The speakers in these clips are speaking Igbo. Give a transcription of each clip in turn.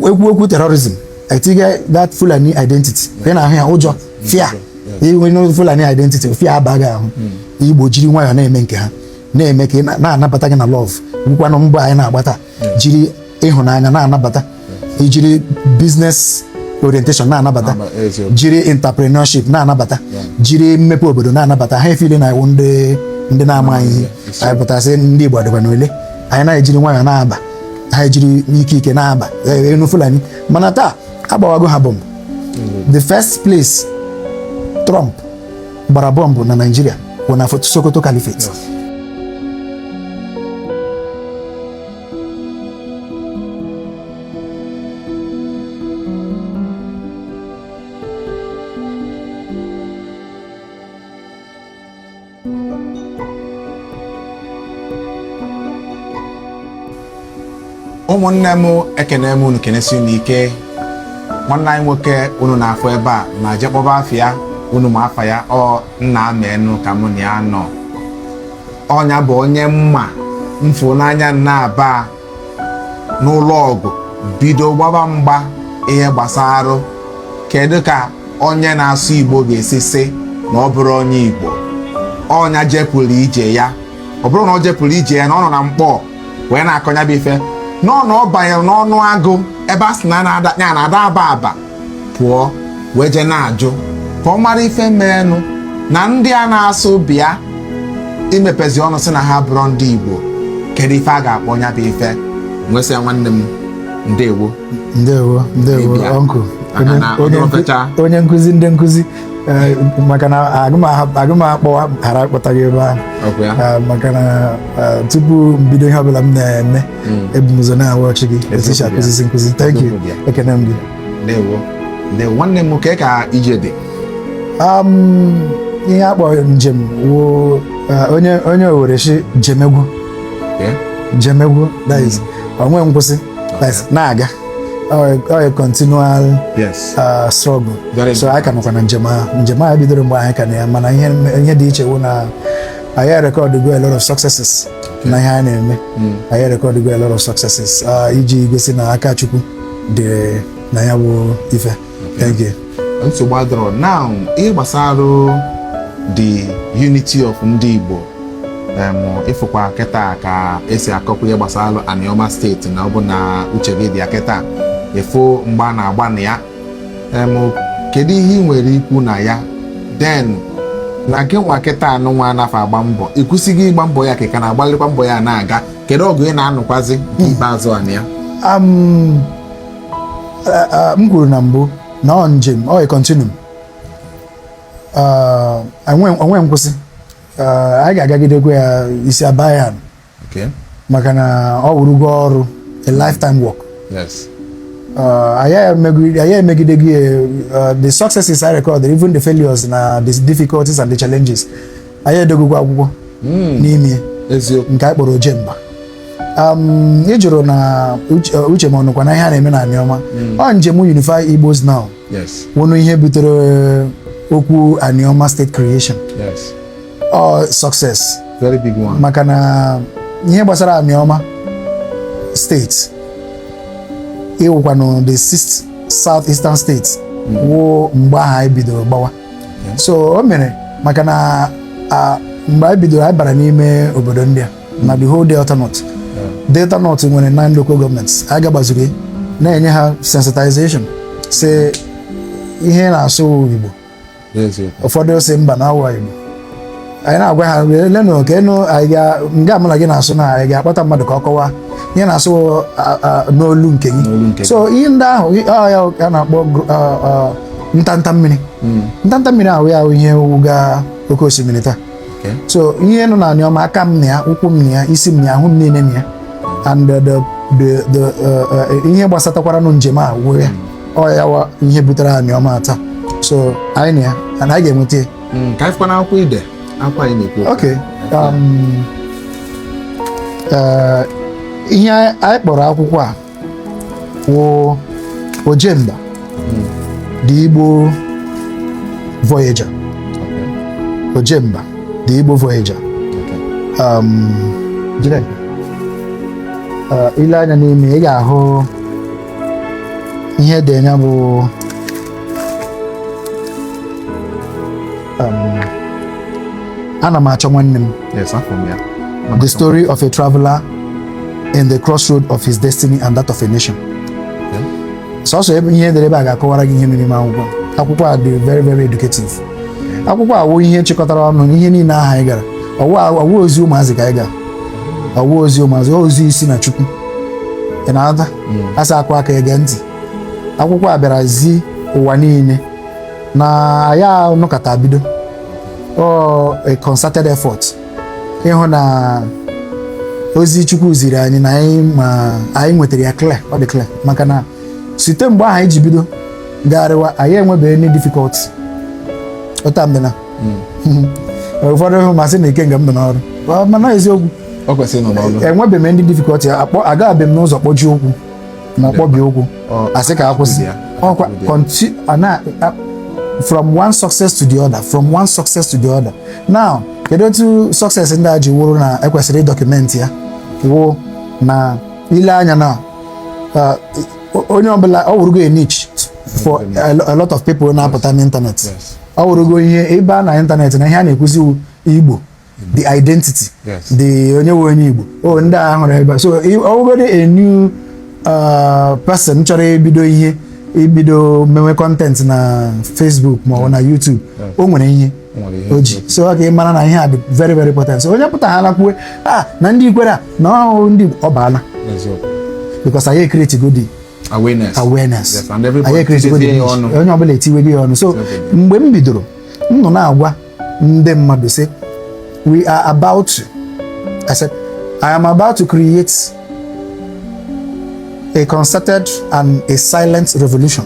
ekwu okwu terrorism etinye that Fulani identity ị na-ahụ ya ụjọ fear onye Fulani identity fear aba gị ahụ hmm. Igbo jiri nwayọọ na-eme nke ha na-eme ka na-anabata gị na love wụkwanụ mbọ anyị na-agbata hmm. jiri ịhụnanya na-anabata hmm. ijiri business orientation na-anabata jiri entrepreneurship na-anabata jiri mmepe obodo na-anabata ha efile na ị wụ ndị na-amaghị ihe anyị pụta sị ndị Igbo adịkwa n'ule anyị na-ejiri nwayọọ na-aba ha ejiri ike ike na-aba ndị Fulani mana taa agbawago ha bomb the first place Trump gbara bomb na Nigeria bụ na Sokoto Caliphate ụmụnne m ekene m unu kenesi unu ike nwanne anyị nwoke unu na-afụ ebe a ma je kpọba afa ya unu ma afa ya ọ nna menụ ka mụ na ya nọ ọ nya bụ onye m ma m fụ n'anya na-aba n'ụlọ ọgụ bido gbaba mgba ihe gbasara kedu ka onye na-asụ Igbo ga-esi sị na ọ bụrọ onye Igbo ọ nya jepụrụ ije ya ọ bụrọ na ọ jepụrụ ije ya na ọ nọ na mkpọ wee na-akọ nya bụ ife n'ọnụ ọ banyere n'ọnụ agụ ebe a sị na na-ada aba aba pụọ wee je na-ajụ ka ọ mara ife meenụ na ndị a na-asụ bịa imepezi ọnụ sị na ha abụrọ ndị Igbo kedu ife a ga-akpọ nya bụ ife nwesịa nwanne m ndewo ndewo ndewo ọnkụ onye nkụzi ndị nkụzi eh, maka na agụm akpọwa ghara akpọtaghị ebe ahụ eh, maka na eh, tupu mbido ihe ọbụla m na-eme mm. ebu m ụzọ na-awatch gị eticha akụzizi nkụzi thank you ekene m gị ndewo ndewo nwanne m ka ka ije dị um, ihe a kpọrọ njem wụ uh, onye onye Owere sị jemegwu jemegwu that is mm. o nweghị nkwụsị na-aga a continual uh, struggle so anyị ka nọkwa na njem ahụ njem ahụ bidoro mgbe anyị ka nọ ya mana ihe dị iche wụ na anyị erekọdịgo a lot of successes na ihe a na-eme anyị erekọdịgo a lot of successes ah, iji gosi na aka Chukwu dị na ya bụ ife thank you nsogbu adịrọ now ihe gbasara the unity of ndị Igbo em, ị fụkwa kịta ka esi akọpụ ihe gbasara Anioma state na ọ bụ na uche gị dị ya kịta ị fụ mgba a na-agba na ya kedu ihe ị nwere ikwu na ya then na gị nwa kịta nụnwa anafa agba mbọ ịkwụsịghị ịgba mbọ ya ka ị ka na-agbalịkwa mbọ ya na-aga kedu ọgụ ị na-anụkwazi nke ikpeazụ a na ya m kwuru na mbụ na ọ njem ọ continuum o nwe nkwụsị anyị ga-agagidekwa ya isi aba ya maka na ọ wụrụgo ọrụ a lifetime work uh, anyị emegide gị uh, the successes I recorded even the failures na the difficulties and the challenges anyị edegokwa akwụkwọ hmm. n'ime nke anyị kpọrọ ojemba um, ị jụrụ na uh, uche m ọ nọkwa na ihe a na-eme na Aniọma hmm. ọ njem Unify Igbos Now wụnụ ihe butere okwu Aniọma state creation ọ success very big one maka na ihe gbasara Aniọma state ịwụkwanụ the sixth south eastern state wụ mgbe ahụ anyị bidoro gbawa so o mere maka na a, mgbe anyị bidoro anyị bara n'ime obodo ndị a na the whole delta north delta north nwere nine local governments anyị gagbazuru ya, na-enye ha sensitization sị ihe ị na-asụ igbo ụfọdụ sị mba na awa Igbo anyị na-agwa ha lenụ ka ị nọ nga mụ na gị na-asụ na anyị ga-akpọta mmadụ ka ọ kọwaa ihe na-asụ n'olu nke gị so ihe ndị ahụ ya a na-akpọ ntanta mmiri hmm. ntanta mmiri ahụ ya wụ ihe wụga oke osimiri taa so ihe nọ na Aniọma aka m na ya ụkwụ m na ya isi m na ya ahụ m niile na ya and the uh, uh, uh, ihe gbasatakwaranụ njem a wụ ya ọ ya wụ ihe butere Aniọma taa so anyị na ya and anyị ga-enweta ya Mm, ka anyị fụkwa n'akwụkwọ ide akwa anyị na-ekwu okwu. okay um, eh, ihe anyị kpọrọ akwụkwọ a wụ ojemba the igbo voyager Okay, ojemba the igbo voyager okay. um, jide. Eh, i lee anya n'ime ị ga-ahụ ihe dị na ya bụ um, ana m achọ nwanne m the story of a traveler in the crossroad of his destiny and that of a nation sọsọ ebe ihe e dere ebe a ga-akọwara gị ihe mere n'ime akwụkwọ akwụkwọ a dị very very educative akwụkwọ a wụ ihe chịkọtara ọnụ ihe niile ahụ anyị gara ọ wụ ozi ụmụazị ka anyị gara ọ wụ ozi ụmụazị ozi si na chukwu ị na-aghọta asa akụ aka ege ntị akwụkwọ a bịara zi ụwa niile na anyị nọkọta bido ọ a concerted effort ịhụ na ozi chukwu ziri anyị na anyị ma anyị nwetara ya clear ọ dị clear maka na site mgbe ahụ anyị ji bido gagharịwa anyị enwebeghị any difficulty ụta m dị na ụfọdụ hụ m asị na ikenga m nọ n'ọrụ Ọ- mana eziokwu o kwesịrị ịnọ n'ọrụ enwebeghị m ndị difficulty akpọ agabeghị m n'ụzọ kpọji ụkwụ ma ọ kpọbi ụkwụ Ọ- asị ka akwụsị ya. ọkwa Akwụsị ya. conti- a na a- from one success to the other from one success to the other now kedu otu success ndị a ji wụrụ na ekwesịrị ịdọkụmenti ya wụ na ile anya na uh, o- onye ọbụla ọ wụrụgo a niche for a lo- a lot of people na-apụta n'ịntanetị Yes. ọ wụrụgo ihe ebe a na ịntanetị na ihe a na-ekwuzi wu igbo the identity the onye wụ onye Igbo o oh, ndị a hụrụ ebe so ọ wụgodi a new uh, person chọrọ ibido ihe ibido mewe kọntentị na Facebook ma ọ bụ na YouTube o nwere ihe o ji so ọ ga mara na ihe a dị very very important so onye pụtahala kwuwe a ah, na ndị Ikwerre a na ọ wụ ndị ọ baala because anyị ekretigo the awareness awareness anyị ekretigo dị onye ọbụla etiwego ọnụ so mgbe m bidoro m nọ na-agwa ndị mmadụ sị we are about to I said I am about to create a concerted and a silent revolution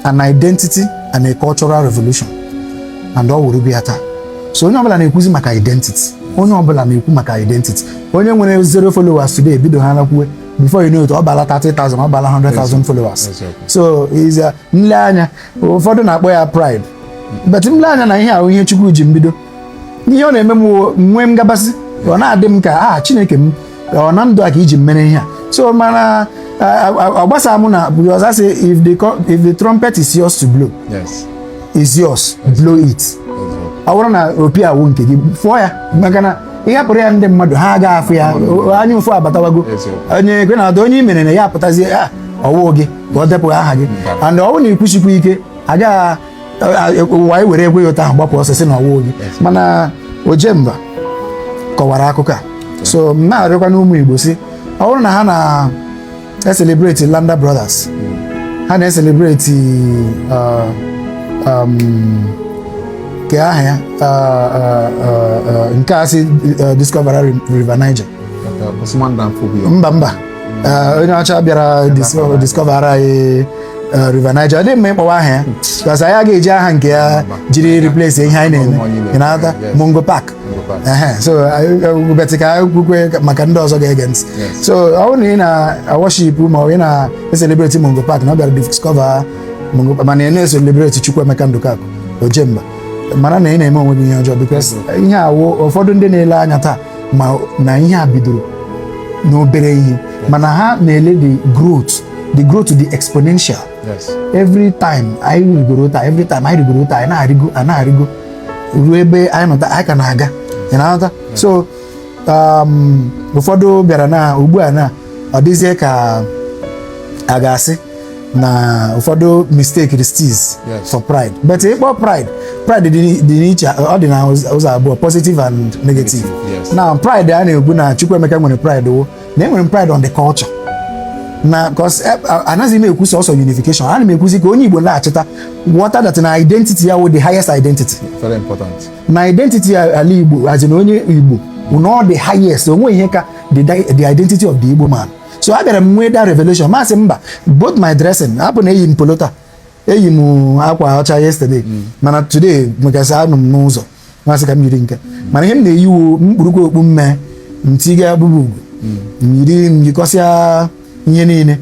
an identity and a cultural revolution and ọ wụrụ bịa taa so onye ọbụla na-ekwuzi maka identity onye ọbụla na-ekwu maka identity onye nwere zero followers today bidohala kwuwe before you know it ọ baala 30,000 ọ baala 100,000 followers so is m lee anya ụfọdụ na-akpọ ya pride but m lee anya na ihe ahụ ihe Chukwu ji m bido ihe ọ na-eme m nwee ngabasị ọ na-adị m ka aha Chineke m ọ na ndụ a ka i ji mere ihe a so mana ọ gbasara mụ na because I say if the if the trumpet is yours to blow yes. is yours blow it ọ bụrụ na opi a wụ nke gị fụọ ya maka na ị hapụrụ ya ndị mmadụ ha agaghị afụ ya anya ụfụ abatawago onye ekwe na ada onye i mere na ya apụtazie ọ wụ gị ka ọ depụghị aha gị and ọ bụrụ na ị kwụsikwa ike agadi nwaanyị were ekwe ya ụta ahụ gbapụ ọsọ sị na ọ wụghị gị mana ojemba kọwara akụkọ a so m na-arịọkwanụ ụmụ igbo sị ọ bụrụ na ha na-eselebreti Lander brothers ha na-eselebreti uh, um, nke aha ya uh, uh, uh, uh, nke a sị uh, discover river niger Usman Dan Fodio. mba mba Eh, onye ọcha bịara dis- discover anyị eh, River Niger ọ dị mma ịkpọwa aha ya because anyị agaghị eji aha nke ya jiri replace ihe anyị na-eme ị na-aghọta Mungo Park Ehe, so but ka anyị kwukwe maka ndị ọzọ ga-ege ntị so ọ bụrụ na ị na-awọship ma ọ bụ ị na-eselebreti Mungo Park na ọ bịara discover Mungo Park mana ị na-eselebreti Chukwuemeka Ndụkakụ Ojemba mara na ị na-eme onwe gị ihe ọjọọ because ihe a wụ ụfọdụ ndị na-ele anya taa ma na ihe a bidoro n'obere ihe mana ha na-ele the growth the growth dị exponential every time anyị rigoro otu a every time anyị rigoro otu a anyị na-arịgo anyị na-arịgo ruo ebe anyị nọ taa anyị ka na-aga ị na-aghọta so um, ụfọdụ bịara na ugbu a na ọ dịzie ka a ga-asị na ụfọdụ mistakes this Yes. for pride but ịkpọ pride pride dị n'i- dị n'iche ọ dị na ụz- ụzọ abụọ positive and negative Negative, yes. na pride a na-ekwu na Chukwuemeka nwere pride wụ na enwere m pride on the culture na cos anaghị m ekwu sọsọ unification ana m ekwuzi ka onye Igbo na-achịta ghọta that na identity ya wụ the highest identity very important na identity ala Igbo as in onye Igbo na ọ dị highest o nweghị ihe ka the, the identity of the Igbo man so abịara m nwee that revelation m asị mba both my dressing hapụ na eyi m polo taa eyi m akwa ọcha yesterday mm. mana today because anọ m n'ụzọ m asị ka m yiri nke mana ihe m na-eyi wụ m kpurukwa okpu mme m tiga abụba ugo mm. m yiri m yikọsịa ihe niile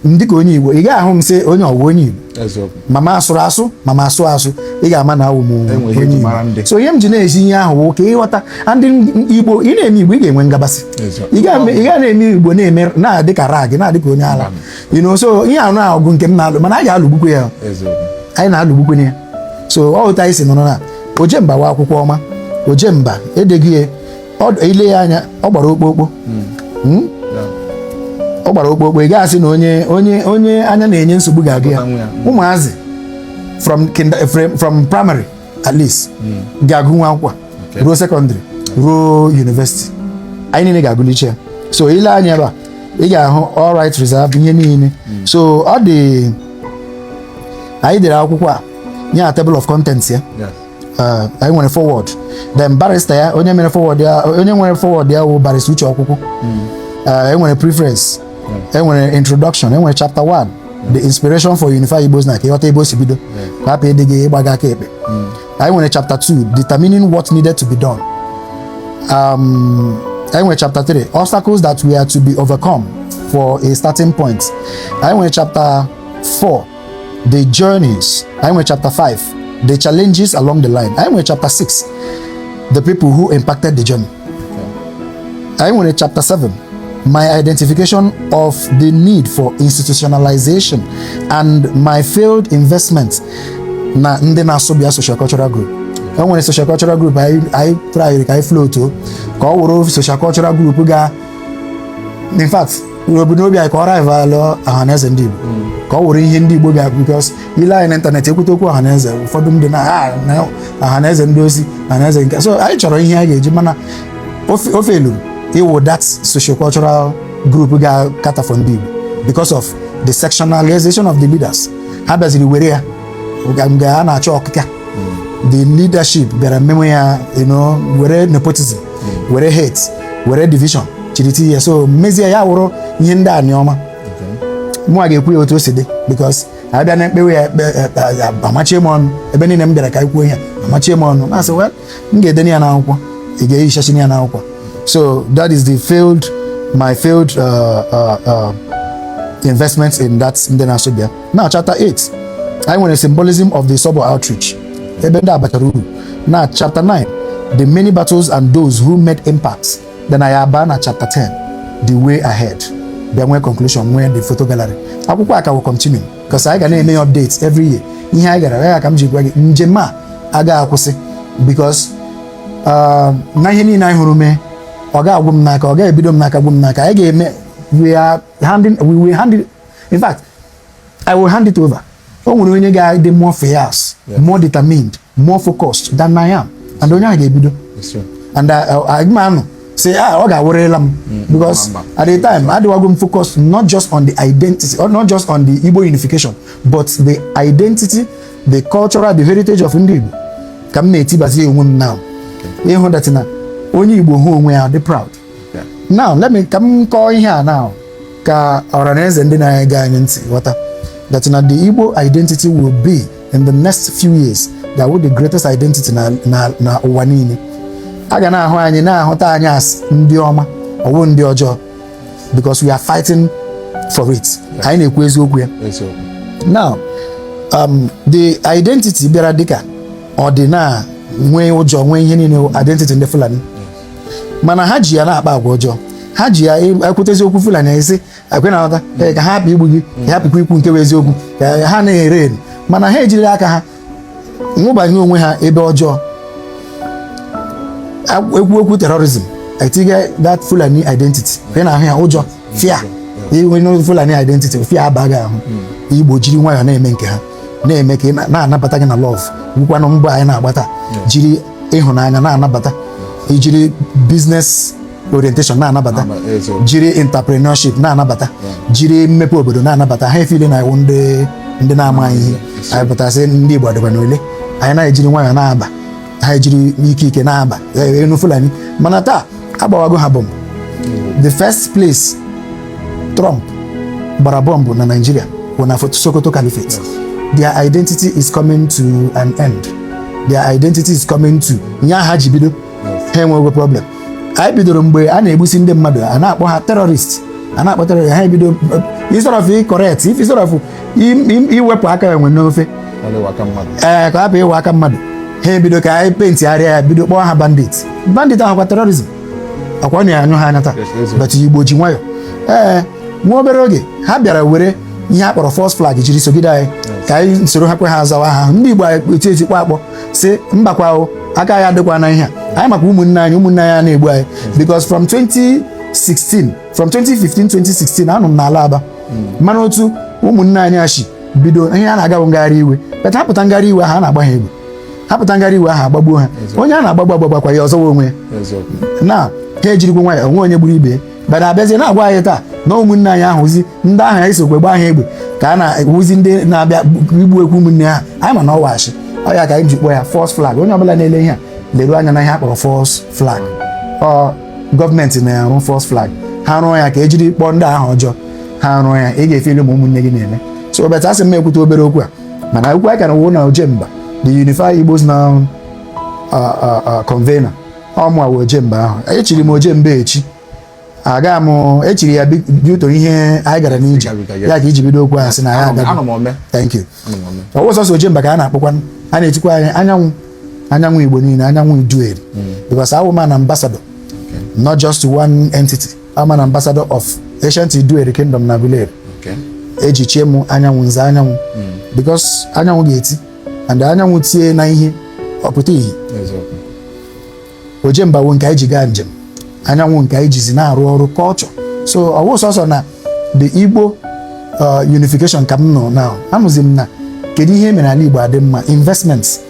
dịka onye Igbo ị ga-ahụ m sị onye a wụ onye Igbo ma m asụrụ asụ ma m asụ asụ ị ga-ama na awụ m onye Igbo so ihe m ji na-ezi ihe ahụ wụ ka ị ghọta ndị Igbo ị na-eme Igbo ị ga-enwe ngabasị ị ga na-eme Igbo na-eme na-adị ka rag na-adị ka onye ala you know so ihe ahụ bụ ọgụ nke m na-alụ mana a ga-alụgbukwe ya anyị na-alụgbukwe ya so ọ otu a anyị si nọrọ na Ojemba wa akwụkwọ ọma Ojemba edeghị ya i lee ya anya ọ gbara okpokpo hmm. Hmm? ọ gbara okpokpo ị ga-asị na onye onye onye anya na-enye nsogbu ga-agụ ya hmm. ụmụazị from from primary at least ga-agụnwu akwụkwọ a ruo secondary ruo university anyị niile ga-agụlicha ya so i lee anya ebe a ị ga-ahụ all right reserve ihe niile so ọ dị anyị dere akwụkwọ a nye ya table of contents ya Ah, anyị nwere foreword then barrister ya onye mere foreword ya onye nwere foreword ya wụ Barrister Uche Okwukwu Ah, e nwere preference e nwere introduction e nwere chapter 1 the inspiration for Unify Igbos na ka ị ghọta ebe o si bido ka hapụ ịdị gị ịgbaga aka ekpe anyị nwere chapter 2 determining what needed to be done um, anyị nwere chapter 3 obstacles that were to be overcome for a starting point anyị nwere chapter 4 the journeys anyị nwere chapter 5 the challenges along the line anyị nwere chapter 6 the people who impacted the journey anyị nwere chapter 7 my identification of the need for institutionalization and my failed investment na ndị na-asụ bịa social cultural group e nwere social cultural group anyị anyị tryrị ka anyị floatọ ka ọ wụrụ social cultural group ga in fact ebumnobi anyị ka ọ rival ọhaneze ndị Igbo ka ọ wụrụ ihe ndị Igbo bịa because i lee anya n'ịntanetị e kwute okwu ọhaneze ụfọdụ ndị na ha na ọhaneze ndị ozi ọhaneze nke so anyị chọrọ ihe a ga-eji mana ọ fe ọ failuru ịwụ that sociocultural group ga-acater for ndị Igbo because of the sectionalization of the leaders ha bịaziri were ya ga- mgbe a na-achọ ọkịka the leadership bịara mmenwe ya you know, were nepotism were hate were division chịrị tie ya so mezie ya wụrụ ihe ndị Anioma mụwa ga-ekwu ya otu o si dị because a bịa na-ekpewe ya ekpe a machie m ọnụ ebe niile m bịara ka anyị kwuo ihe a machie m ọnụ na-asị well m ga-edenye ya n'akwụkwọ ị ga-ehichachina ya n'akwụkwọ so that is the failed my failed uh, uh, uh, investment in that ndị na-asụ bịa na chapter 8 anyị nwere symbolism of the Isobo outreach ebe ndị a batara uru na chapter 9 the many battles and those who made impacts then anyị abaa na chapter 10 the way ahead bịa nwee conclusion nwee the photo gallery akwụkwọ a ka will continue because anyị ga na-eme updates every year ihe anyị gara ya ka m ji gwa gị njem a agaghị akwụsị because um, na ihe niile anyị hụrụ mee ọ ga-agwụ m n'aka ọ ga-ebido m n'aka gwụ m n'aka anyị ga-eme we are handing we will handing in fact i will hand it over o nwere onye ga-adị more fierce more determined more focused than i am and onye ahụ ga-ebido and a ga-amanụ say ah ọ ga-awụrịla m mm, because at the time adịwago m focused not just on the identity or not just on the Igbo unification but the identity the cultural the heritage of ndị Igbo ka m na-etibazi onwe m now ịhụ that na onye Igbo hụ onwe ya dị proud now let me ka m kọọ ihe a now ka ọra na eze ndị na-ege anyị ntị ghọta that na the Igbo identity will be in the next few years ga-awụ the greatest identity na na na ụwa niile a ga na-ahụ anyị na-ahụta anyị as ndị ọma ọ wụ ndị ọjọọ because we are fighting for it anyị na-ekwu eziokwu ya now um, the identity bịara dịka ọ dị na nwee ụjọ nwee ihe niile identity ndị Fulani mana ha ji ya na-akpa agwa ọjọọ ha ji ya ekwutezi okwu fulani ezi ekwe na nghọta ee, ka ha hapụ igbu gị ka ha hapụkwa ikwu nke bụ eziokwu ka ha anaghị ere eri mana ha ejiri aka ha nwụbanye onwe ha ebe ọjọọ Agw- ekwu okwu terrorism etiga that fulani identity ị na-ahụ ya ụjọ fear inwe n'otu fulani identity fear aba gị ahụ igbo jiri nwayọọ na-eme nke ha na-eme ka ị na- na-anabata gị na love ọ wụkwanụ mbọ anyị na-agbata jiri ịhụnanya na-anabata ijiri business orientation na-anabata jiri entrepreneurship na-anabata jiri mmepe obodo na-anabata ha efeel na ị wụ ndị ndị na-amaghị ihe anyị pụta sị ndị Igbo dịkwanụ ole anyị na-ejiri nwayọọ na-aba ha ejiri ike ike na-aba enu Fulani mana taa agbawago ha bọmbụ the first place Trump gbara bọmbụ na Nigeria bụ na Sokoto Caliphate their identity is coming to an end their identity is coming to an end ha ji bido ha enweghị problem anyị bidoro mgbe a na-egbusi ndị mmadụ a na-akpọ ha terrorist a na-akpọ terrorist ha ebido instead of correct if instead of iwepụ aka enwe n'ofe ee ka ọ hapụ ịwụ aka mmadụ ha ebido ka anyị paintigharịa ya bido kpọọ ha bandit bandit awụkwa terrorism ọkwa na anyụ ha anya taa but igbo ji nwayọ ee nwa obere oge ha bịara were ihe a kpọrọ false flag jiri sogide anyị ka anyị soro ha kwe ha zawa aha ndị igbo anyị eti eti kpọ akpọ sị mbakwa o aka anyị adịkwa na ihe a anyị maka ụmụnne anyị ụmụnne anyị na-egbu anyị because from 2016 from 2015 2016 anọ m n'ala Aba mana otu ụmụnne anyị a shi bido ihe a na-agabụ ngagharị iwe but ha pụta ngagharị iwe ahụ a na-agba ha egbe ha pụta ngagharị iwe ahụ agbagbuo ha onye a na-agbagbu agbagbakwa ya ọ zọwa onwe ya na ha ejirikwa nwayọ o nwe onye gburu ibe ya but abịazie na-agwa anyị taa na ụmụnne anyị awụzi ndị ahụ anyị sokwe gbaa ha egbe ka ha na-awụzi ndị na-abịa igbu ekwu ụmụnne ha anyị ma na ọ wụ ashị ọ ya ka anyị ji kpọọ ya false flag onye ọbụla na-ele ihe a leruo anya na ihe a kpọrọ false flag ọ gọọmenti na-arụ false flag ha rụọ ya ka ejiri kpọọ ndị aha ọjọọ ha rụọ ya ị ga-efeel ma ụmụnne gị na-eme so obeta asị m ekwute obere okwu a mana okwu a ka na wụ na ojemba the unified igbos now convener ọ mụ a wụ ojemba ahụ echiri m ojemba echi aga m echiri ya due to ihe anyị gara n'ije ya ka iji bido okwu ahụ sị na ya agaghị thank you ọ wụ sọsọ ojemba ka a na-akpọkwa a na-etikwa anyị anyanwụ anyanwụ igbo niile anyanwụ Iduu Eri hmm. because awụ m an ambassador not just one entity awụ m an ambassador of ancient Iduu Eri kingdom n'Aguleri e ji chie m anyanwụ nze anyanwụ hmm. because anyanwụ ga-eti and anyanwụ tie na ihe ọ pụta ihe Ojemba wụ nke anyị ji gaa njem anyanwụ nke anyị jizi na-arụ ọrụ culture so ọwụ sọsọ na the igbo uh, unification ka m nọ now anọzi m na kedu ihe mere ala igbo adị mma investments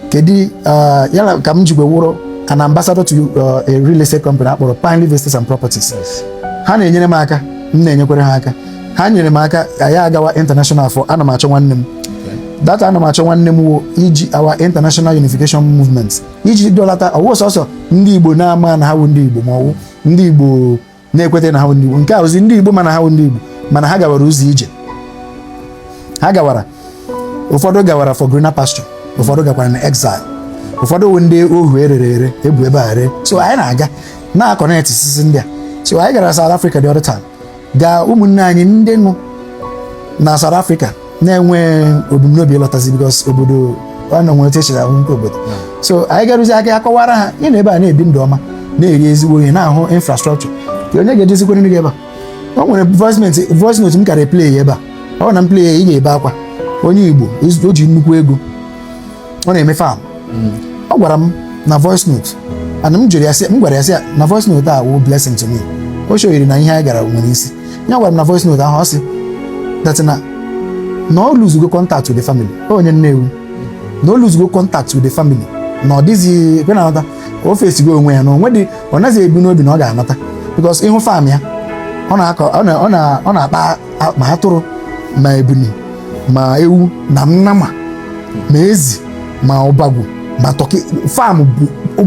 kedu uh, yala ka m jikwe wụrụ an ambassador to uh, a real estate company akpọrọ Pine Leaf Estates and Properties ha na-enyere m aka m na-enyekwere ha aka ha nyere m aka anyị agawa international for ana m achọ nwanne m that ana m achọ nwanne m wụzi our international unification movement iji dọlata ọwụ sọsọ ndị igbo na-ama na ha bụ ndị igbo ma ọwụ ndị igbo na-ekweta na ha bụ ndị igbo nke a wụzi ndị igbo ma na ha bụ ndị igbo mana ha gawara ụzọ ije ha gawara ụfọdụ gawara for greener pasture ụfọdụ gakwara na exile ụfọdụ wụ ndị ohu e rere ere ebu ebe a ree so anyị na-aga na-akọnektịsịsị ndị a so anyị gara South Africa the other time gaa ụmụnne anyị ndị nọ na South Africa na-enwe ebumnobi ịlọtazi because obodo ọ na nwere techere ahụ nke obodo so anyị garuzi aka akọwara ha ị nọ ebe a na-ebi ndụ ọma na-eri ezigbo ihe na-ahụ infrastructure kee onye ga-edozikwara nụ gị ebe a o nwere voice note- voice note m kara play ya ebe a ọ wụrụ na m play ya ị ga-ebe akwa onye Igbo o ji nnukwu ego ọ na-eme farm ọ gwara m na voice note and m gwara ya sị ya na voice note a wụ blessing to me o shoyiri na ihe anyị gara nwere isi ya gwara m na voice note ahụ ọ sị that na na ọ lụzugo contact with the family ọ onye Nnewi na ọ lụzugo contact with the family na ọ dịghị ekwe na anata ka o fesigo onwe ya na onwe dị ọ naghị ebu n'obi na ọ ga-anata because ị hụ farm ya ọ na-akọ ọ na- ọ na- ọ na-akpa ma atụrụ ma ebuni ma ewu na nnama ma ezi ma ọbagwu ma tọki farm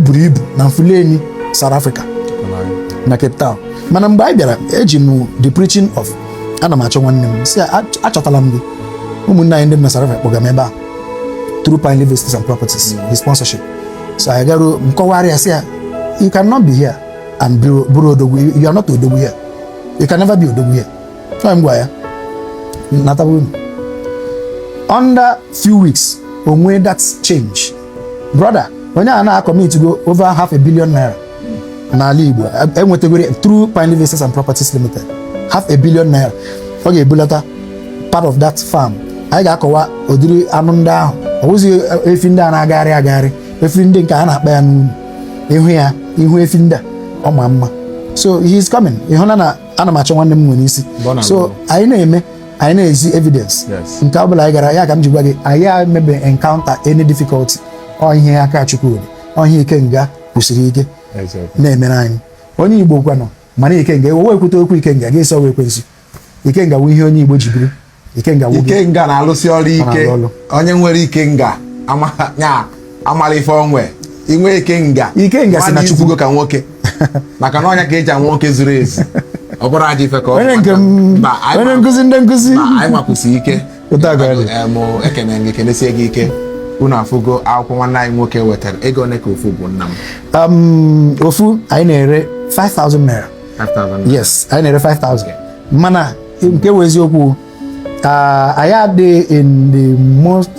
buru ibu na Mfuleni South Africa na Cape Town mana mgbe anyị bịara eji m the preaching of ana m achọ nwanne m sị achọtala m gị ụmụnne anyị ndị nọ na South Africa kpọga m ebe a through Pine Leaf Estates and Properties his sponsorship so anyị garuo m kọwara ya sị ya you cannot be here and bụrụ odogwu you are not odogwu here you can never be odogwu here so m gwa ya natawa ụnọ under few weeks o nwee that change brother onye a na akọmitgo over half a billion naira n'ala Igbo enwetagoro through Pine Leaf Estates and Properties Limited half a billion naira ọ ga-ebulata part of that farm anyị ga-akọwa ụdịrị anụ ndị ahụ ọ bụzi efi ndị a na-agagharị agagharị efi ndị nke a na-akpa ya n'ụnọ ị hụ ya ị hụ efi ndị a ọ ma mma so he is coming ị hụna na ana m achọ nwanne m nwere isi Bọna so bọna. anyị na-eme anyị na-ezi evidence Yes. nke ọ bụla anyị gara ya ka m ji gwa gị anyị emebe encounter any difficulty ọ ihe aka chukwu dị ọ ihe ikenga kwụsịrị ike Eziokwu. na-emere anyị onye igbo kwanụ mana ikenga e wee kwute okwu ikenga a ga-asị ọ wụ ekwensu ikenga wụ ihe onye igbo ji biri ikenga wụ gị ikenga na-alụsị ọrụ ike na-alụ onye nwere ikenga ama- ya amara ife onwe inwe ikenga Ikenga si na mmadụ Chukwu. izugo ka nwoke maka na ọ nya ka e ji ama nwoke zuru ezu ọ bụrụ aja ife ka ọ onye nke m Mba, anyị onye ma- nkụzi ndị nkụzi ma anyị nwakwụsị ike Otu a ka ọ dị. Em, ekene gị kenesie gị ike unu afụgo akwụkwọ nwanne anyị nwoke wetara ego ole ka ofu bụ nna m Um, ofu anyị na-ere 5000 naira 5000 yes anyị na-ere 5000 mana nke wụ eziokwu ah, anyị adịghị in the most,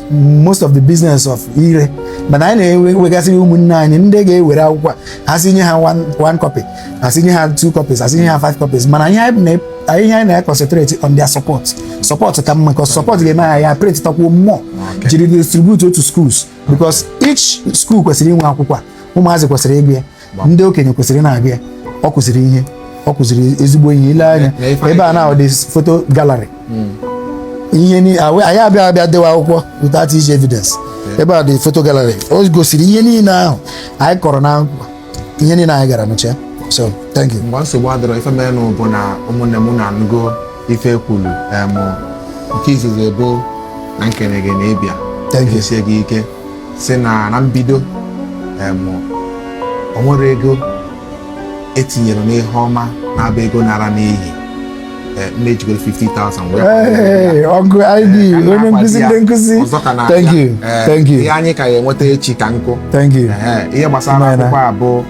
most of the business of ire mana anyị na-enwegasịrị ụmụnne anyị ndị ga-ewere akwụkwọ a, ha si nye ha one, one copy ha si nye ha two copies ha si nye ha five copies mana ihe anyị na- anyị- ihe anyị na-concentrate on their support support ka mma because support ga-eme anyị ya printakwuo more jiri distribute to schools because each school kwesịrị inwe akwụkwọ a ụmụazị kwesịrị ịgụ ya ndị okenye kwesịrị na-agụ ya ọ kụziri ihe ọ kụziri ezigbo ihe i lee anya ebe a na-ahụ dị photo gallery hmm. ihe anyị abịa abịa dewa akwụkwọ without iji evidence ebe a dị photo gallery o gosiri ihe niile ahụ anyị kọrọ na akwụkwọ ihe niile anyị gara nụcha so thank you mgbe nsogbu adịrọ ife mere bụ na ụmụnne m na-anụgo ife e kwulu nke izizi bụ na m kene gị na ịbịa thank you sie gị ike si na na mbido o nwerọ ego etinyere n'ihe ọma na-abụ ego nara n'iyi eh, m ejigoro 50,000 ọgụ id eh, onye nkụzi ndị nkụzi thank you eh, thank you ihe anyị ka ya enweta echi ka nkụ thank you ihe gbasara akwụkwọ a bụ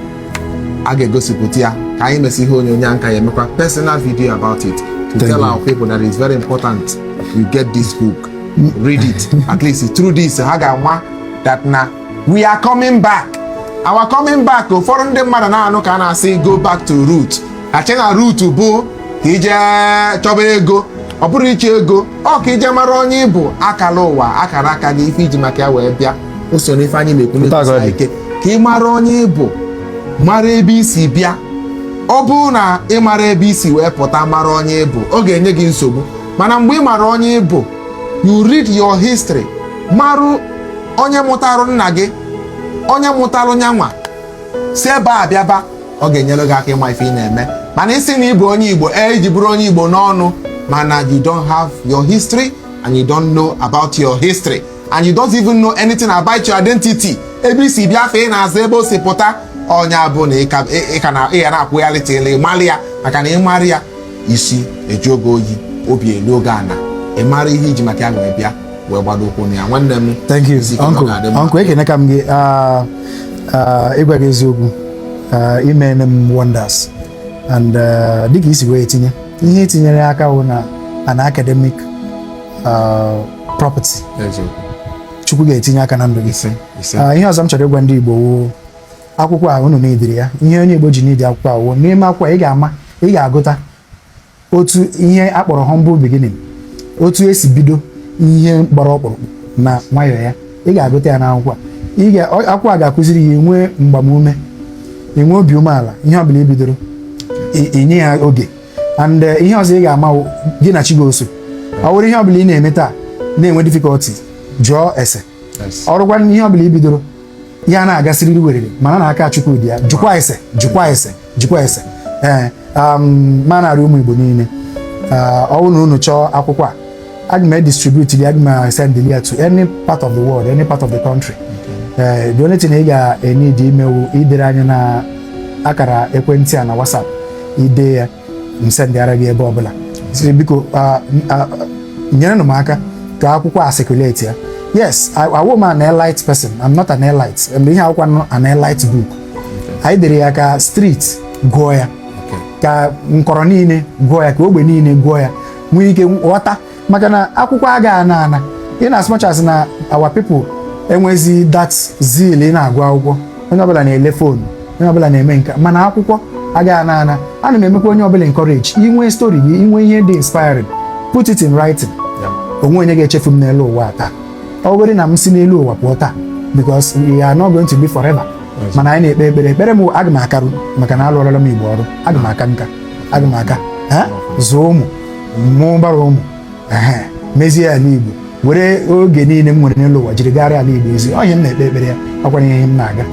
a ga-egosipụta ya ka anyị mesị ihe onyonyo a m ka ya emekwa personal video about it to tell our people that it's very important you get this book read it at least through this ha ga-ama that na we are coming back our coming back ụfọdụ ndị mmadụ na-anụ ka a na-asị go back to root ha che na root bụ ka i je chọba ego ọ bụrọ ịchọ ego ọ ka i je mara onye ị bụ akara ụwa akara aka gị ife i ji maka ya wee bịa o so n'ife anyị na-ekwu na-ekwusi ike ka ị mara onye ị bụ mara ebe i si bịa ọ bụrụ na ị marọ ebe i si wee pụta mara onye ị bụ ọ ga-enye gị nsogbu mana mgbe ị mara onye ị bụ you read your history marụ onye mụtarụ nna gị onye mụtarụ nya nwa si ebe a bịaba ọ ga-enyere gị aka ịma ife ị na-eme mana ị sị na ị bụ onye igbo ee i ji bụrụ onye igbo n'ọnụ mana you don't have your history and you don't know about your history and you don't even know anything about your identity ebe i si bịa afa ị na-aza ebe o si pụta ọ nya bụ na ị ka na-akwụgharị till ị malụ ya maka na ị marụ ya isi eji oge oyi obi elu oge ana ị mara ihe iji maka ya wee bịa wee gbado ụkwụ na ya nwanne m thank you uncle ekeneka m gị ah, ah, ịgwa gị eziokwu ah, imene m wonders and dịka i si wee tinye ihe i tinyere aka wụ na an academic property chukwu ga-etinye aka na ndụ gị ihe ọzọ m chọrọ ịgwa ndị Igbo wụ akwụkwọ a unu needịrị ya ihe onye Igbo ji need akwụkwọ a wụ n'ime akwụkwọ ị ga-ama ị ga-agụta otu ihe a kpọrọ humble beginning otu esi bido ihe gbara ọkpụrụkpụ na nwayọọ ya ị ga-agụta ya n'akwụkwọ a akwụkwọ a ga-akụziri ya enwe mgbamume enwe obi umeala ihe ọ bụla i bidoro i nye ya oge and eh, ihe ọzọ ị ga-ama gị na chi ga-eso ọ bụrụ ihe ọ bụla ị na-eme taa na-enwe difficulty jụọ ese ọ wụrụkwa ihe ọ bụla i bidoro ya ana-aga sịrịrị werere mana na aka Chukwu dị ya jụkwa ese jụkwa ese jụkwa ese ee um, m na-arịọ ụmụ Igbo niile uh, ọ wụ na unu chọọ akwụkwọ a aga m edistribute ya aga m send ya to any part of the world any part of the country ee uh, the only thing ị ga-eneed ime wụ idere anyị na akara ekwentị a na WhatsApp i dee ya m sendịara gị ebe ọbụla sịrị biko nyerenụ m aka ka akwụkwọ a circulate ya yes awụ m an elite person I'm not an elite and ihe akwụkwọ not an elite book anyị dere ya ka street gụọ ya ka nkọrọ niile gụọ ya ka ogbe niile gụọ ya nwee ike ghọta maka na akwụkwọ aga ana ana in as much as na our people enwezi that zeal ịna-agụ akwụkwọ onye ọbụla na-ele phone onye ọbụla na-eme nke a mana akwụkwọ agaghị ana ana ana m emekwa onye ọbụla encourage i nwee story gị i nwee ihe dị inspiring put it in writing o nwe onye ga-echefu m n'elu ụwa taa ọ bụrụ na m si n'elu ụwa pụọ taa because we are not going to be forever mana anyị na-ekpe ekpere ekpere m aga m akarụ maka na alụọrọla m igbo ọrụ aga m aka nka aga m aka zụọ ụmụ mụbara ụmụ ehe, mezie ala igbo were oge niile m nwere n'elu ụwa jiri gara ala igbo ozi ọ ihe m na-ekpe ekpere ya ọ kwanụ ihe m na-aga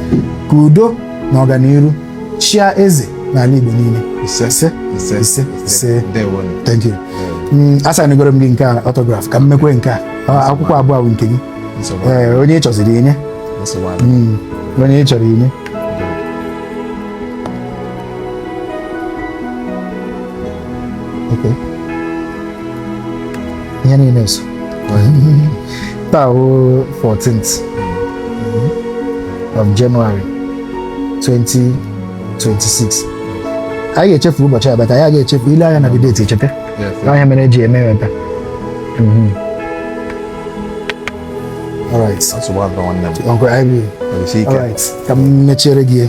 ka udo na ọganiru chịa eze n'ala igbo niile Ise. ise Ise. ise ise Ndewonu. thank you Mm, asignigoro m gị nke a autograph ka m mekwe nke a Ọ- akwụkwọ abụọ a wụ nke gị Nsogbu adịghị. Ee, onye ị chọziri inye Nsogbu adịghị. Mm, onye ị chọrọ inye ihe niile so taa bụ 14th of January 2026 anyị ga-echefu ụbọchị a bata anyị ga-echefu i lee anya na the date echeta onye mere eji eme ebe mhm. ka m mechiere gị